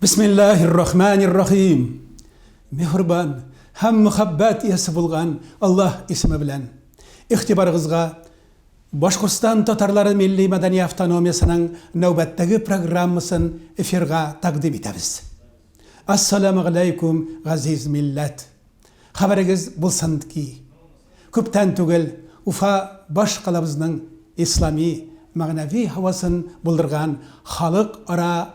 Бисмиллаһи р-Рахмани р-Рахим! Миһрбан һәм мөхәббәт иясе булган Аллаһ исеме белән! Игътибарыгызга Башкортстан татарлары милли-мәдәни автономиясенең нәүбәттәге программасын эфирга тәкъдим итәбез. Ассаләмәгаләйкүм, газиз милләт! Хәбәрегез булсын ки, күптән түгел Уфа баш калабызның ислами, мәгънәви һавасын булдырган халыкара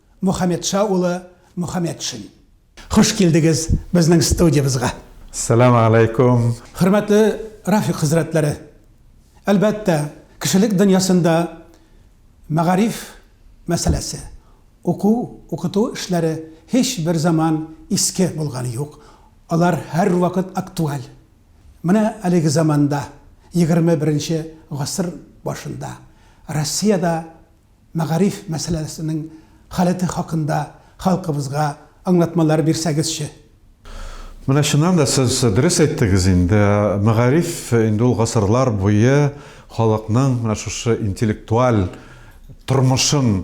Мухаметша улы Мухаметшин. Хуш килдегез безнең студиябезга. Салам алейкум. Хөрмәтле Рафик хәзрәтләре! Әлбәттә, кешелек дөньясында мәгариф мәсьәләсе, уку, укыту эшләре һичбер заман иске булганы юк, алар һәрвакыт актуаль. Менә әлеге заманда, егерме беренче гасыр башында, Россиядә мәгариф мәсьәләсенең халәте хакында халкыбызга аңлатмалар бирсәгезче? Менә чыннан да сез дөрес әйттегез инде, мәгариф инде ул гасырлар буе халыкның менә шушы интеллектуаль тормышын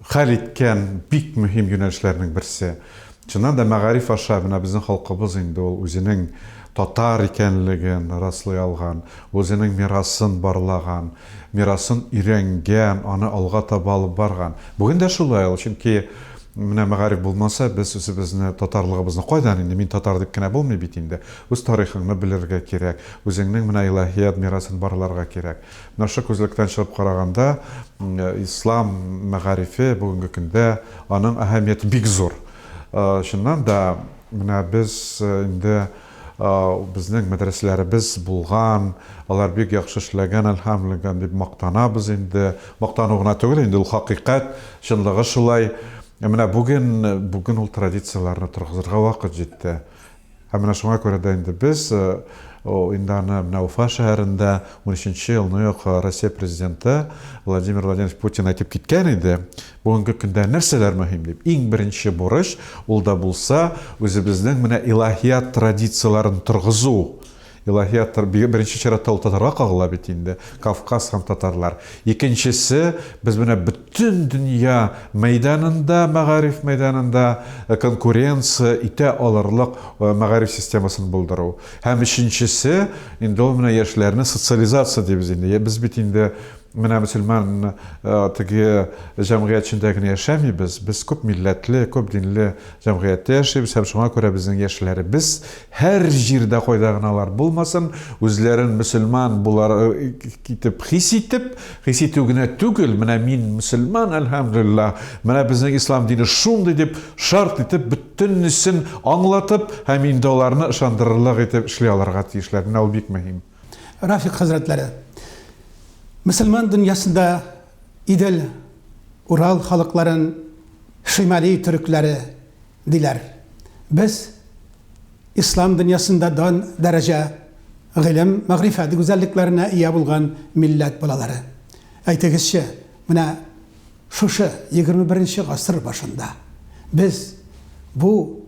хәл иткән бик мөһим юнәлешләрнең берсе. Чыннан да мәгариф аша менә безнең халкыбыз инде ул үзенең татар икәнлеген раслый алган, үзенең мирасын барлаган, мирасын өйрәнгән, аны алга таба алып барган. Бүген дә шулай ул, чөнки менә мәгариф булмаса, без үзебезне, татарлыгыбызны кайдан инде, мин татар дип кенә булмый бит инде. Үз тарихыңны белергә кирәк, үзеңнең менә илаһият мирасын барларга кирәк. Наша күзлектән чыгып караганда, ислам мәгарифе бүгенге көндә аның әһәмияте бик зур. Чыннан да, менә без инде безнең мәдрәсәләребез булган, алар бик яхшы эшләгән, әлхәмлегә, дип мактанабыз инде. Мактану гына түгел инде, ул хакыйкать, чынлыгы шулай. Ә менә бүген, бүген ул традицияләрне торгызырга вакыт җитте. Һәм менә шуңа күрә дә инде без инде аны менә Уфа шәһәрендә унөченче елны ук Россия Президенты Владимир Владимирович Путин әйтеп киткән иде, бүгенге көндә нәрсәләр мөһим дип, иң беренче бурыч, ул да булса, үзебезнең менә илаһият традицияләрен торгызу. Илаһияттыр, беренче чиратта ул татарга кагыла бит инде, Кавказ һәм татарлар. Икенчесе, без менә бөтен дөнья мәйданында, мәгариф мәйданында конкуренция итә алырлык мәгариф системасын булдыру. Һәм өченчесе, инде ул менә яшьләрне социализация дибез инде. Без бит инде менә мөселман теге җәмгыять эчендә генә яшәмибез, без күп милләтле, күп динле җәмгыятьтә яшибез һәм шуңа күрә безнең яшьләребез Һәр җирдә кайда гына алар булмасын, үзләрен мөселман булар итеп хис итеп, хис итү генә түгел, менә мин мөселман, әлхәмдүлиллаһ, менә безнең ислам дине шундый дип шарт итеп бөтенесен аңлатып һәм инде аларны ышандырырлык итеп эшли алырга тиешләр. Менә ул бик мөһим. Рафик хәзрәтләре, мөселман дөньясында Идел, Урал халыкларын, Шимали төрекләре, диләр. Без Ислам дөньясында дан, дәрәҗә, гыйлем, мәгърифәт гүзәллекләренә ия булган милләт балалары. Әйтегезче, менә шушы егерме беренче гасыр башында без бу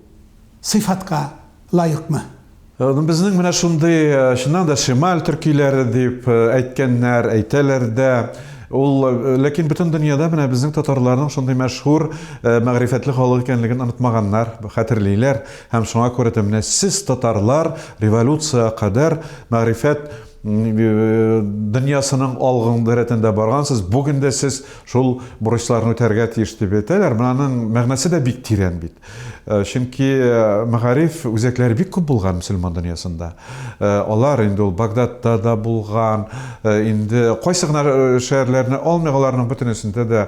сыйфатка лаекмы? Ну безнең менә шундый, чыннан да, Шемаль төркиләре дип әйткәннәр, әйтәләр дә. Ул, ләкин бөтен дөньяда менә безнең татарларның шундый мәшһүр, мәгърифәтле халык икәнлеген онытмаганнар, хәтерлиләр. Һәм шуңа күрә дә менә сез, татарлар, революциягә кадәр мәгърифәт дөньясының алгыңды рәтендә баргансыз, бүген дә сез шул бурычларны үтәргә тиеш дип әйтәләр. Моның мәгънәсе дә бик тирән бит. Э, чөнки э, мәгариф үзәкләре бик күп булган мөселман дөньясында э, алар инде ул багдадта да булган инде кайсы гына шәһәрләрне алмыйк аларның бөтенесендә дә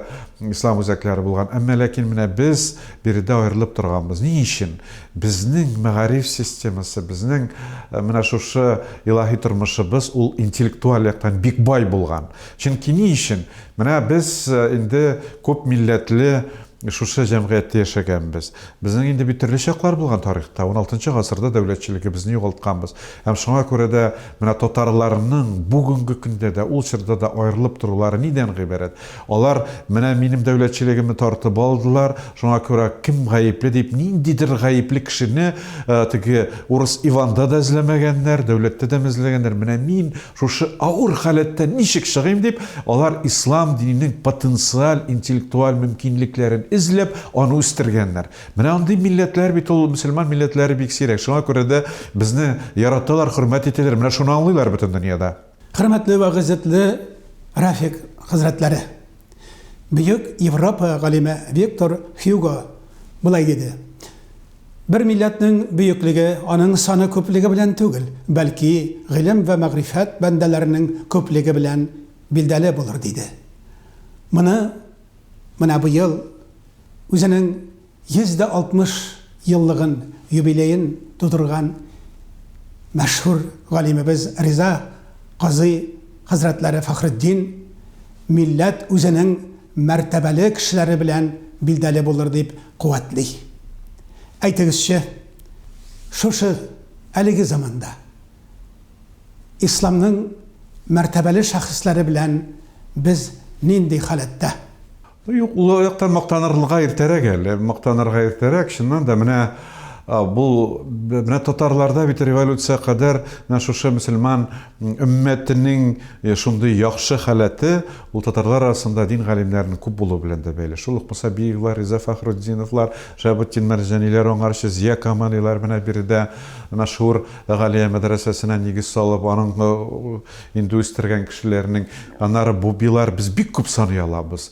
ислам үзәкләре булган әмма ләкин менә без биредә аерылып торганбыз ни өчен безнең мәгариф системасы безнең менә шушы илаһи тормышыбыз ул интеллектуаль яктан бик бай булган чөнки ни өчен менә без инде күп милләтле Шушы җәмгыятьтә яшәгәнбез. Безнең инде бит төрле чаклар булган тарихта. Уналтынчы гасырда дәүләтчелегебезне югалтканбыз. Һәм шуңа күрә дә менә татарларның бүгенге көндә дә, ул чорда да аерылып торулары нидән гыйбарәт? Алар менә минем дәүләтчелегемне тартып алдылар, шуңа күрә кем гаепле дип, ниндидер гаепле кешене теге урыс Иванда да эзләмәгәннәр, дәүләттә дә эзләмәгәннәр, менә мин Шушы авыр халәттән ничек чыгыйм дип, алар ислам диненең потенциаль интеллектуаль мөмкинлекләрен эзләп, аны үстергәннәр. Менә андый милләтләр бит ул мөселман милләтләре бик сирәк. Шуңа күрә дә безне яраталар, хөрмәт итәләр. Менә шуны аңлыйлар бөтен дөньяда. Хөрмәтле вә гыйззәтле Рафик хәзрәтләре! Бөек Европа галиме Виктор Хьюго болай диде, Бер милләтнең бөеклеге аның саны күплеге белән түгел, бәлки гыйлем вә мәгърифәт бәндәләренең күплеге белән билдәле булыр, диде. Моны менә быел үзенең 160 еллыгын, юбилеен тудырган мәшһүр галимебез Риза казый хәзрәтләре Фәхретдин милләт үзенең мәртәбәле кешеләре белән билдәле булыр дип куәтли. Әйтегезче, шушы әлеге заманда исламның мәртәбәле шәхесләре белән без нинди халәттә? Юк, ул яктан мактанырга иртәрәк әле, мактанырга иртәрәк, чыннан да, менә бу, менә татарларда бит революция кадәр менә шушы мөселман өммәтенең шундый яхшы халәте, ул татарлар арасында дин галимнәренең күп булуы белән дә бәйле. Шул ук Мусабиевлар, Риза Фәхретдиновлар, Шәһабетдин Мәрҗаниләр, аңарчы Зия Камалилар менә биредә мәшһүр Галия мәдрәсәсенә нигез салып, аның Инде үстергән кешеләрнең, аннары бу билар без бик күп саный алабыз.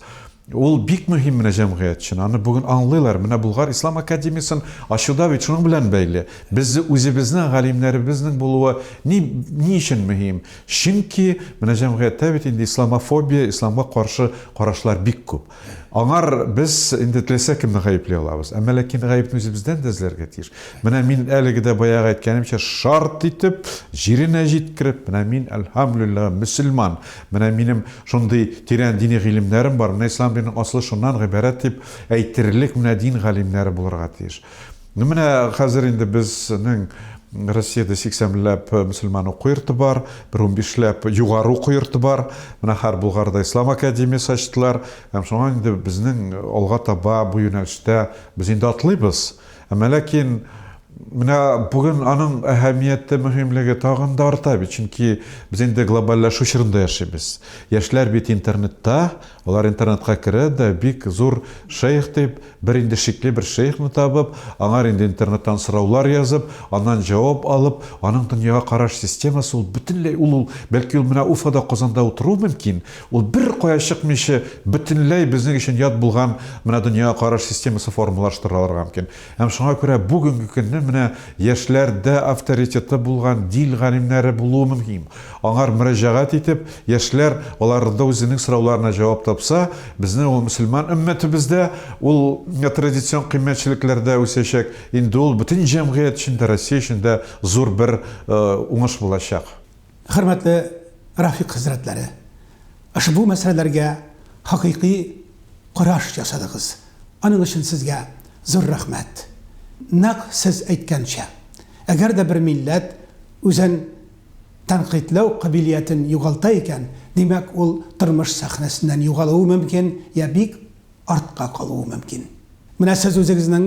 Ул бик мөһим менә җәмгыять өчен. Аны бүген аңлыйлар. Менә Болгар ислам академиясен ачу да бит шуның белән бәйле. Без үзебезнең галимнәребезнең булуы ни, ни өчен мөһим? Чөнки менә җәмгыятьтә бит инде исламофобия, исламга каршы карашлар бик күп. Аңар без инде теләсә кемне гаепли алабыз. Әмма ләкин гаепне үзебездән дә эзләргә тиеш. Менә мин әлеге дә баягы әйткәнемчә шарт итеп, җиренә җиткереп, менә мин, әлһәмлүлләһ, мөселман, менә минем шундый тирән дини гыйлемнәрем бар, менә ислам диненең асылы шуннан гыйбарәт дип әйтерлек менә дин галимнәре булырга тиеш. Ну менә хәзер инде безнең Россиядә 80 милләп мөселман уку йорты бар, бер унбиш ләп югары уку йорты бар. Менә хәр Булгарда Ислам академиясе ачтылар. Һәм шуңа инде безнең алга таба бу юнәлештә без инде атлыйбыз. Әмма ләкин менә бүген аның әһәмияте, мөһимлеге тагын да арта бит, чөнки без инде глобальләшү чорында яшибез. Яшьләр бит интернетта, Алар интернетка керә дә, бик зур шәех дип, бер инде шикле бер шәехне табып, аңар инде интернеттан сораулар язып, аннан җавап алып, аның дөньяга караш системасы ул бөтенләй ул ул, бәлки ул менә Уфада, Казанда утыруы мөмкин, ул беркая чыкмыйча бөтенләй безнең өчен ят булган менә дөньяга караш системасы формалаштырыла алырга мөмкин. Һәм шуңа күрә бүгенге көнне менә яшьләрдә авторитеты булган дин галимнәре булуы мөһим. Аңар мөрәҗәгать итеп, яшьләр аларда үзенең сорауларына җавап тапса, безнең ул мөселман өммәтебез дә ул традицион кыйммәтчелекләрдә үсәчәк, инде ул бөтен җәмгыять өчен дә, Россия өчен дә зур бер уңыш булачак. Хөрмәтле Рафик хәзрәтләре, ошбу мәсьәләләргә хакыйкый караш ясадыгыз, аның өчен сезгә зур рәхмәт. Нәкъ сез әйткәнчә, әгәр дә бер милләт үзен тәнкыйтьләү кабилиятен югалта икән, димәк, ул тормыш сәхнәсеннән югалуы мөмкин, я бик артка калуы мөмкин. Менә сез үзегезнең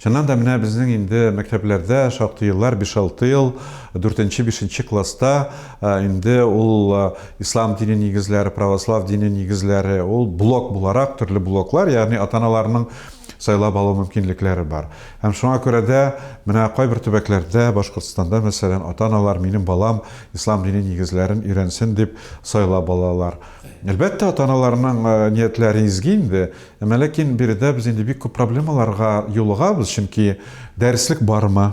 Чыннан да, менә безнең инде мәктәпләрдә шактый еллар, биш-алты ел, дүртенче, бишенче класста инде ул ислам дине нигезләре, православ дине нигезләре, ул блок буларак, төрле блоклар, ягъни ата-аналарның сайлап алу мөмкинлекләре бар. Һәм шуңа күрә дә менә кайбер төбәкләрдә, Башкортстанда, мәсәлән, ата-аналар минем балам ислам дине нигезләрен өйрәнсен дип сайлап алалар. Әлбәттә, ата-аналарның ниятләре изге инде, Әмма ләкин биредә без инде бик күп проблемаларга юлыгабыз, чөнки дәреслек бармы?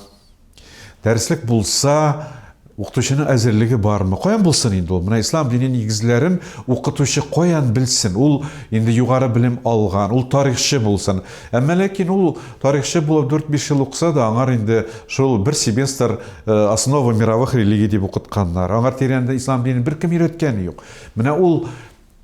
Дәреслек булса, укытучының әзерлеге бармы? Каян булсын инде ул? Менә ислам дине нигезләрен укытучы каян белсен? Ул инде югары белем алган, ул тарихчы булсын. Әмма ләкин ул тарихчы булып 4-5 ел укыса да, аңар инде шул бер семестр э, основа мировых религий дип укытканнар. Аңар тирәнде ислам динен беркем өйрәткәне юк. Менә ул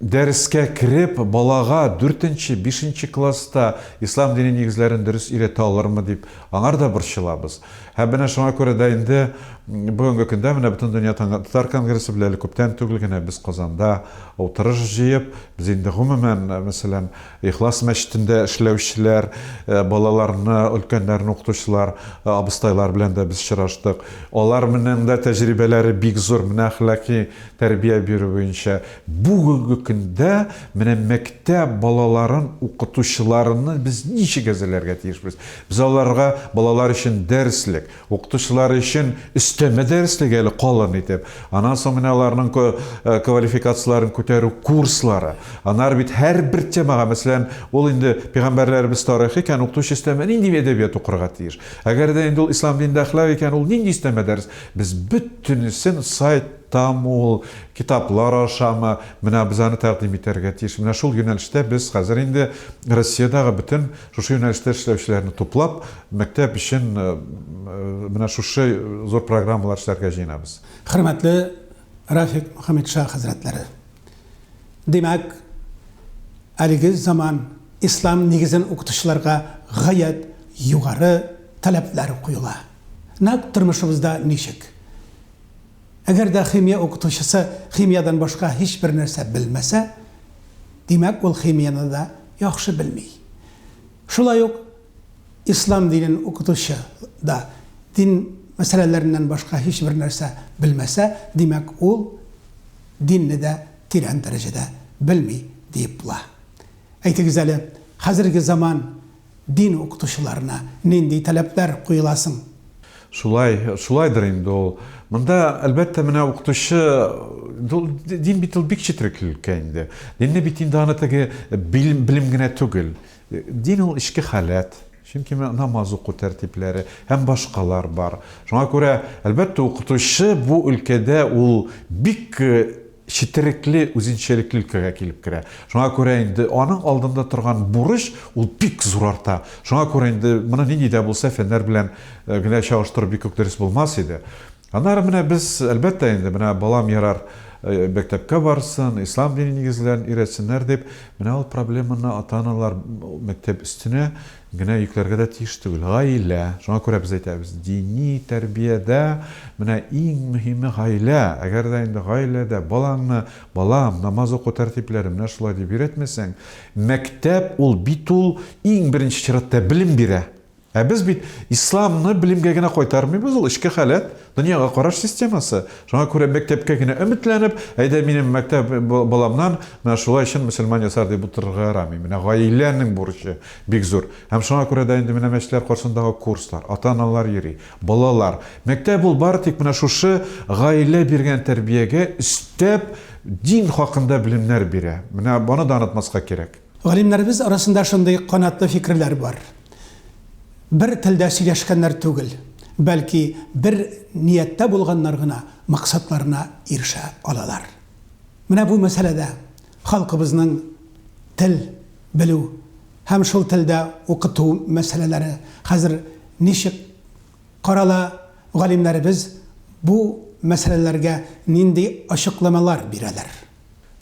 Дәрескә кереп, балага дүртенче, бишенче класста ислам дине нигезләрен дөрес өйрәтә алырмы дип, аңар да борчылабыз. Һәм менә шуңа күрә дә инде бүгенге көндә менә Бөтендөнья татар конгрессы белән әле күптән түгел генә без Казанда утырыш җыеп, без инде гомумән, мәсәлән, Ихлас мәчетендә эшләүчеләр, балаларны, өлкәннәрне укытучылар, абыстайлар белән дә без очраштык. Алар менен дә тәҗрибәләре бик зур, менә әхлакый тәрбия бирү буенча. Бүгенге көндә менә мәктәп балаларын укытучыларны без ничек әзерләргә тиешбез? Без аларга балалар өчен дәреслек, Укытучылар өчен өстәмә дәреслек әле калын итеп. Аннан соң менә аларның квалификацияләрен күтәрү курслары. Аннары бит һәрбер темага, мәсәлән, ул инде пигамбәрләребез тарихы икән, укытучы өстәмә нинди әдәбият укырга тиеш? Әгәр дә инде ул ислам динендә әхлак икән, ул нинди өстәмә дәрес? Без бөтенесен сайт тамы ул, китаплар ашамы, менә без аны тәкъдим итәргә тиеш. Менә шул юнәлештә без хәзер инде Россиядәге бөтен Шушы юнәлештә эшләүчеләрне туплап, мәктәп өчен менә шушы зур программалар эшләргә җыенабыз. Хөрмәтле Рафик Мөхәммәтша хәзрәтләре! Димәк, әлеге заман ислам нигезен укытучыларга гаять югары таләпләр куела. Нәкъ тормышыбызда ничек? Әгәр дә химия укытучысы химиядән башка һичбер нәрсә белмәсә, димәк, ул химияне дә яхшы белми. Шулай ук ислам динен укытучы да дин мәсьәләләреннән башка һичбер нәрсә белмәсә, димәк, ул динне дә тирән дәрәҗәдә белми, диеп була. Әйтегез әле, хәзерге заман Дин укытучыларына нинди таләпләр куела соң? Шулай, шулайдыр инде ул. Монда, әлбәттә, менә укытучы, ул дин бит ул бик четрек өлкә инде. Динне бит инде аны теге белем, белем генә түгел. Дин ул эчке халәт. Чөнки менә намаз уку тәртипләре һәм башкалар бар. Шуңа күрә, әлбәттә, укытучы бу өлкәдә ул бик Четерекле үзенчәлекле өлкәгә килеп керә. Шуңа күрә инде аның алдында торган бурыч ул бик зур арта. Шуңа күрә инде моны нинди дә булса фәннәр белән генә чагыштыру бик үк дөрес булмас иде. Аннары менә без, әлбәттә инде, менә балам ярар мәктәпкә барсын, ислам дине нигезләрен өйрәтсеннәр дип, менә ул проблеманы ата-аналар мәктәп өстенә Генә йөкләргә дә тиеш түгел. Гаилә, шуңа күрә без әйтәбез, дини тәрбиядә менә иң мөһиме гаилә. Әгәр дә инде гаиләдә балаңны, балам, намаз уку тәртипләре менә шулай дип өйрәтмәсәң, мәктәп ул бит ул иң беренче чиратта белем бирә. Ә без бит исламны белемгә генә кайтармыйбыз, ул эчке халәт, дөньяга караш системасы. Шуңа күрә мәктәпкә генә өметләнеп, әйдә минем мәктәп баламнан менә шулай чын мөселман ясар дип утырырга ярамый. Менә гаиләнең бурычы. Бик зур. Һәм шуңа күрә дә инде менә мәчетләр каршындагы курслар, ата-аналар йөри, балалар. Мәктәп ул бары тик менә шушы гаилә биргән тәрбиягә өстәп дин хакында белемнәр бирә. Менә аны да онытмаска кирәк. Галимнәребез арасында шундый канатлы фикерләр бар, бер телдә сөйләшкәннәр түгел, бәлки бер нияттә булганнар гына максатларына ирешә алалар. Менә бу мәсьәләдә Халкыбызның тел белү һәм шул телдә укыту мәсьәләләре хәзер ничек карала, галимнәребез бу мәсьәләләргә нинди ачыкламалар бирәләр?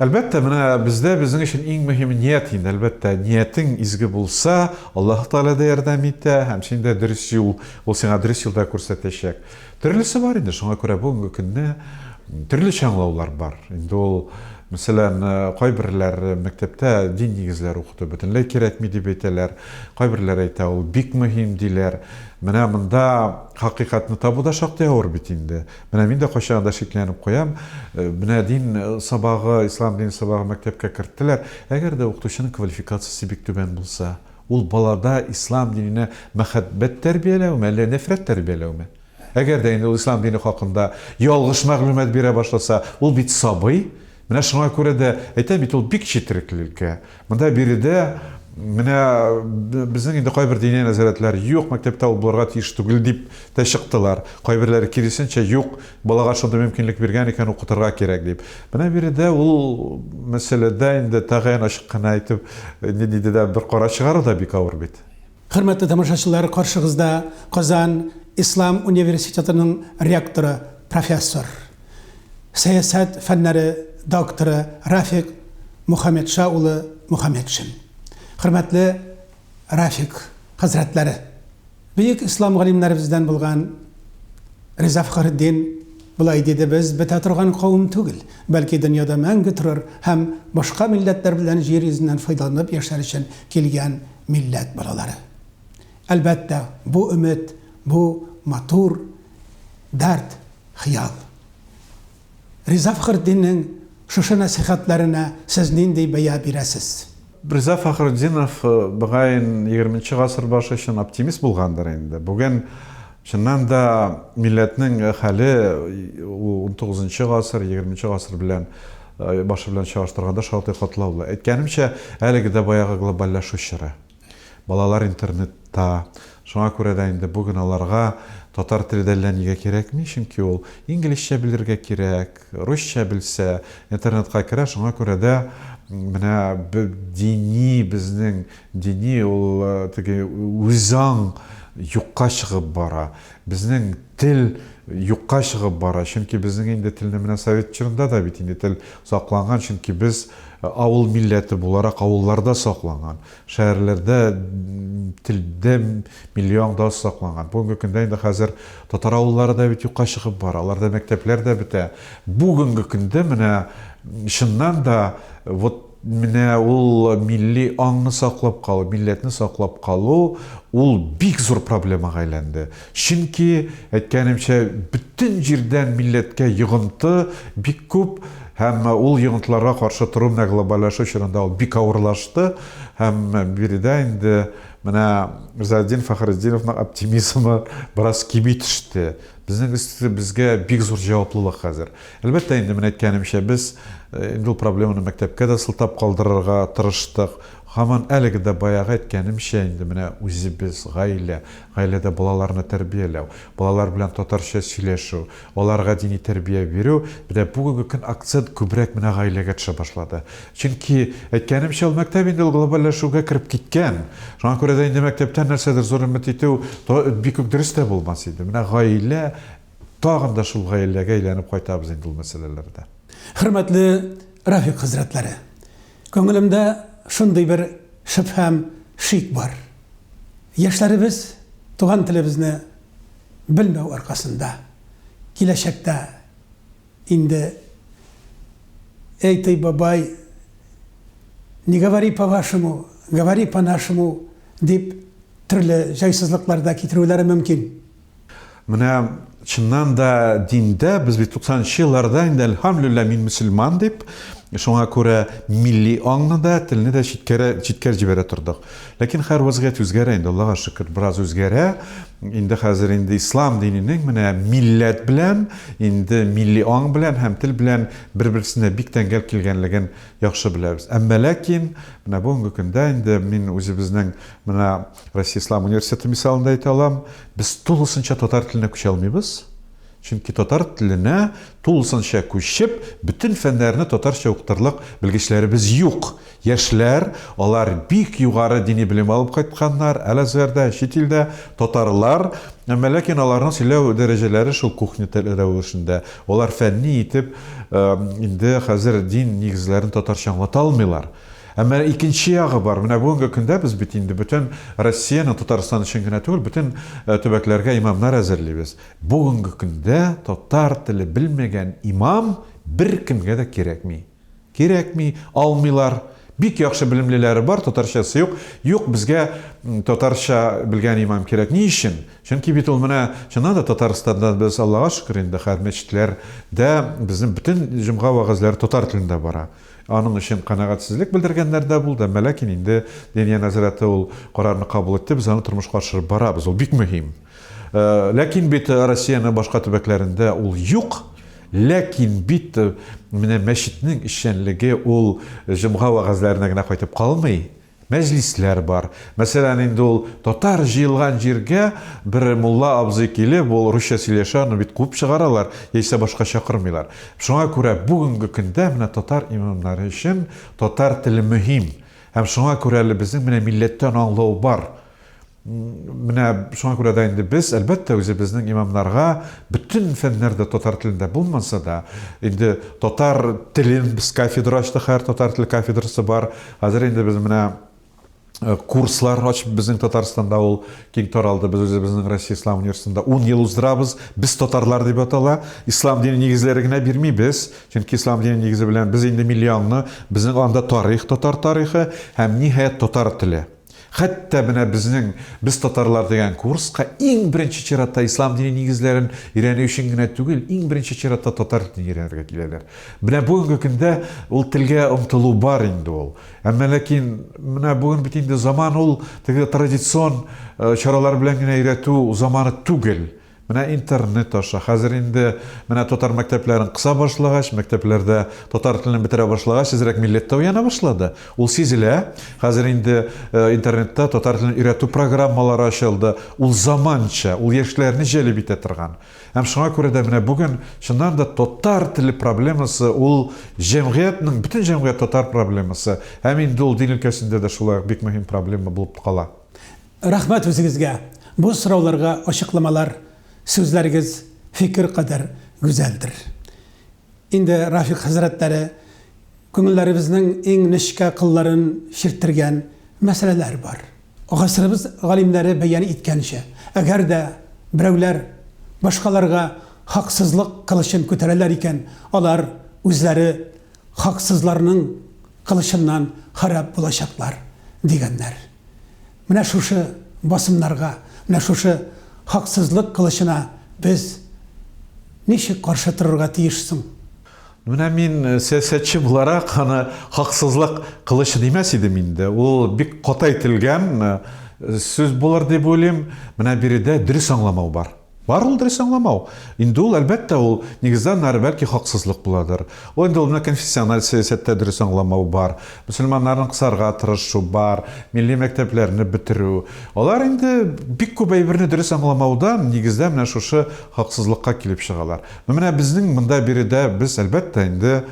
Әлбәттә, менә бездә безнең өчен иң мөһиме ният инде. Әлбәттә, ниятең изге булса, Аллаһы Тәгалә дә ярдәм итә һәм син дә дөрес юл, ул сиңа дөрес юл да күрсәтәчәк. Төрлесе бар инде, шуңа күрә бүгенге көнне төрлечә аңлаулар бар. Инде ул, мәсәлән, кайберләр мәктәптә дин нигезләре укыту бөтенләй кирәкми дип әйтәләр, кайберләр әйтә, ул бик мөһим, диләр. Менә монда хакыйкатьне табу да шактый авыр бит инде. Менә мин дә кайчагында шикләнеп куям, менә дин сабагы, ислам дине сабагы мәктәпкә керттеләр, әгәр дә укытучының квалификациясе бик түбән булса? Ул балада ислам диненә мәхәббәт тәрбияләүме, әллә нәфрәт тәрбияләүме? Әгәр дә инде ул ислам дине хакында ялгыш мәгълүмат бирә башласа, ул бит сабый. Менә шуңа күрә дә әйтәм бит, ул бик четерекле өлкә. Монда биредә менә безнең инде кайбер дини нәзарәтләр, юк, мәктәптә ул булырга тиеш түгел, дип тә чыктылар. Кайберләре, киресенчә, юк, Балага шундый мөмкинлек биргән икән, укытырга кирәк дип. Менә биредә ул мәсьәләдә инде тәгаен ачык кына әйтеп, ниндидер дә бер карар чыгару да бик авыр бит. Хөрмәтле тамашачылар, каршыгызда Казан Ислам университетының ректоры, профессор, сәясәт фәннәре докторы Рафик Мухаметша улы Мухаметшин. Хөрмәтле Рәфик хәзрәтләре, бөек ислам галимнәребездән булган Риза Фәхретдин болай диде, Без бетә торган кавым түгел, бәлки дөньяда мәңге торыр һәм башка милләтләр белән җир йөзеннән файдаланып яшәр өчен килгән милләт балалары. Әлбәттә, бу өмет, бу матур дәрт, хыял. Риза Фәхретдиннең шушы нәсыйхәтләренә сез нинди бәя бирәсез? Риза Фәхретдинов, мөгаен, егерменче гасыр башы өчен оптимист булгандыр инде. Бүген, чыннан да, милләтнең хәле, ул унтугызынчы гасыр, егерменче гасыр белән башы белән чагыштырганда шактый катлаулы. Әйткәнемчә, әлеге дә баягы глобальләшү чоры. Балалар интернетта, шуңа күрә дә инде бүген аларга татар теле дә әллә нигә кирәкми, чөнки ул инглизчә белергә кирәк, русча белсә, интернетка керә, шуңа күрә дә менә дини, безнең дини ул теге үзаң юкка чыгып бара, безнең тел юкка чыгып бара, чөнки безнең инде телне менә совет чорында да бит инде тел сакланган, чөнки без Ә авыл милләте буларак авылларда сакланган, шәһәрләрдә телдә миллиаңда сакланган. Бүгенге көндә инде хәзер татар авыллары да бит юкка чыгып бара, аларда мәктәпләр дә бетә. Бүгенге көндә менә чыннан да вот менә ул милли аңны саклап калу, милләтне саклап калу, ул бик зур проблемага әйләнде. Чөнки, әйткәнемчә, бөтен җирдән милләткә йогынты бик күп һәм ул йогынтыларга каршы тору менә глобальләшү чорында ул бик авырлашты һәм биредә инде менә Ризаэтдин Фәхретдиновның оптимизмы бераз кими төште. Безнең өстебезгә бик зур җаваплылык хәзер. Әлбәттә инде, менә әйткәнемчә, без инде ул проблеманы мәктәпкә дә сылтап калдырырга тырыштык. Һаман әлеге дә баягы әйткәнемчә инде менә үзебез, гаилә. Гаиләдә балаларны тәрбияләү, балалар белән татарча сөйләшү, аларга дини тәрбия бирү, менә бүгенге көн акцент күбрәк менә гаиләгә төшә башлады. Чөнки, әйткәнемчә, ул мәктәп инде ул глобальләшүгә кереп киткән. Шуңа күрә дә инде мәктәптән нәрсәдер зур өмет итү бик үк дөрес тә булмас иде. Менә гаилә, тагын да шул гаиләгә әйләнеп кайтабыз инде ул мәсьәләләрдә. Хөрмәтле Рәфикъ хәзрәтләре! Күңелемдә шундый бер шөбһәм, шик бар. Яшьләребез туган телебезне белмәү аркасында, киләчәктә инде Эй, ты, бабай, не говори по-вашему, говори по-нашему, дип, төрле җайсызлыклар да китерүләре мөмкин. Менә чыннан да диндә без бит 90 нчы елларда инде әлхәмлүллә мин мөселман дип, шуңа күрә милли аңны да, телне дә читкәрә, читкә җибәрә тордык. Ләкин хәр вазгыять үзгәрә инде, Аллага шөкер, бераз үзгәрә. Инде хәзер инде ислам диненең менә милләт белән, инде милли аң белән һәм тел белән бер-берсенә бик тәңгәл килгәнлеген яхшы беләбез. Әмма ләкин менә бүгенге көндә инде мин үзебезнең Менә Россия Ислам университеты мисалында әйтә алам, без тулысынча татар теленә күчә алмыйбыз. Чөнки татар теленә тулысынча күчеп, бөтен фәннәрне татарча укытырлык белгечләребез юк. Яшьләр, алар бик югары дини белем алып кайтканнар, Әл-Азгәрдә, чит илдә, татарлар, әмма ләкин аларның сөйләү дәрәҗәләре шул кухня теле рәвешендә. Алар фәнни итеп инде хәзер дин нигезләрен татарча аңлата алмыйлар. Әмма икенче ягы бар. Менә бүгенге көндә без бит инде бөтен Россиянең, Татарстан өчен генә түгел, бөтен төбәкләргә имамнар әзерлибез. Бүгенге көндә татар теле белмәгән имам беркемгә дә кирәкми. Кирәкми, алмыйлар. Бик яхшы белемлеләре бар, татарчасы юк. Юк, безгә татарча белгән имам кирәк. Ни өчен? Чөнки бит ул менә, чыннан да, Татарстанда без, Аллага шөкер инде, хәзер мәчетләрдә безнең бөтен җомга вәгазьләре татар телендә бара. Аның өчен канәгатьсезлек белдергәннәр дә булды, әмма ләкин инде Дания нәзарәте ул карарны кабул итте, без аны тормышка ашырып барабыз, ул бик мөһим. Ләкин бит Россиянең башка төбәкләрендә ул юк, ләкин бит менә мәчетнең эшчәнлеге ул җомга вәгазьләренә генә кайтып калмый. Мәҗлисләр бар. Мәсәлән, инде ул татар җыелган җиргә бер мулла абзый килеп, ул русча сөйләшә, аны бит куып чыгаралар, яисә башка чакырмыйлар. Шуңа күрә бүгенге көндә менә татар имамнары өчен татар теле мөһим. Һәм шуңа күрә әле безнең менә милләттән аңлау бар. Менә шуңа күрә дә инде без, әлбәттә, үзебезнең имамнарга бөтен фәннәр дә татар телендә булмаса да, инде татар телен без кафедра ачтык, хәзер татар теле кафедрасы бар. Хәзер инде без менә э, курслар ачып безнең Татарстанда ул киң таралды. Без үзебезнең Россия Ислам университетында 10 ел уздырабыз. Без татарлар дип атала. Ислам дине нигезләре генә бирмибез. Чөнки ислам дине нигезе белән без инде миллионны, безнең анда тарих, татар тарихы һәм ниһаять татар теле. Хәтта менә безнең Без татарлар дигән курска иң беренче чиратта ислам дине нигезләрен өйрәнү өчен генә түгел, иң беренче чиратта татар телен өйрәнергә киләләр. Менә бүгенге көндә ул телгә омтылу бар инде ул. Әмма ләкин менә бүген бит инде заман ул теге традицион чаралар белән генә өйрәтү заманы түгел. Менә интернет аша, хәзер инде менә татар мәктәпләрен кыса башлагач, мәктәпләрдә татар телен бетерә башлагач, әзрәк милләт тә уяна башлады. Ул сизелә. Хәзер инде интернетта татар телен өйрәтү программалары ачылды. Ул заманча, ул яшьләрне җәлеп итә торган. Һәм шуңа күрә дә менә бүген, чыннан да, татар теле проблемасы, ул җәмгыятьнең, бөтен җәмгыять татар проблемасы. Һәм инде ул дин өлкәсендә дә шулай ук бик мөһим проблема булып кала. Рәхмәт үзегезгә, бу сорауларга ачыкламалар, сүзләрегез фикер кадәр гүзәлдер. Инде Рафик хәзрәтләре күңелләребезнең иң нечкә кылларын чирттергән мәсьәләләр бар. Гасырыбыз галимнәре бәян иткәнчә, әгәр дә берәүләр башкаларга хаксызлык кылычын күтәрәләр икән, алар үзләре хаксызларның кылычыннан харап булачаклар, дигәннәр. Менә шушы басымнарга, менә шушы хаксызлык кылычына без ничек каршы торырга тиеш соң? Менә мин сәясәтче буларак аны хаксызлык кылычы димәс идем инде. Ул бик каты әйтелгән сүз булыр дип уйлыйм. Менә биредә дөрес аңламау бар. Бар ул дөрес аңламау. Инде ул, әлбәттә, ул, нигездә, аннары, бәлки, хаксызлык буладыр. Ул инде ул менә конфессиональ сәясәттә дөрес аңламау бар. Мөселманнарны кысарга тырышу бар, милли мәктәпләрне бетерү. Алар инде бик күп әйберне дөрес аңламаудан, нигездә, менә шушы хаксызлыкка килеп чыгалар. Ну, менә безнең монда биредә без, әлбәттә, инде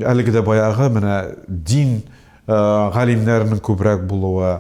әлеге дә баягы менә дин, галимнәрнең күбрәк булуы,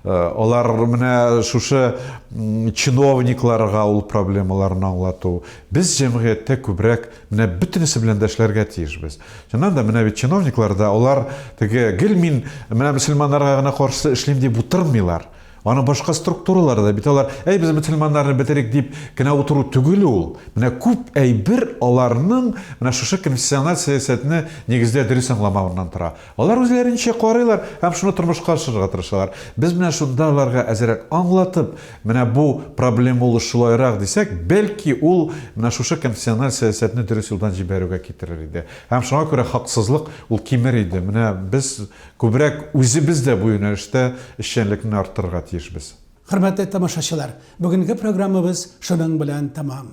алар менә шушы чиновникларга ул проблемаларны аңлату. Без җәмгыятьтә күбрәк менә бөтенесе белән дә эшләргә тиешбез. Чыннан да менә бит чиновниклар да алар теге гел мин менә мөселманнарга гына каршы эшлим дип утырмыйлар. Аны башка структуралар да бит алар, әй без мөселманнарны бетерик дип кенә утыру түгел ул. Менә күп әйбер аларның менә шушы конфессиональ сәясәтне нигездә дөрес аңламавыннан тора. Алар үзләренчә карыйлар һәм шуны тормышка ашырырга тырышалар. Без менә шунда аларга әзерәк аңлатып, менә бу проблема ул шулайрак дисәк, бәлки ул менә шушы конфессиональ сәясәтне дөрес юлдан җибәрүгә китерер иде. Һәм шуңа күрә хаксызлык ул кимер иде. Менә без күбрәк үзебез дә бу юнәлештә эшчәнлекне арттырырга тиешбез. Хөрмәтле тамашачылар, бүгенге программабыз шуның белән тәмам.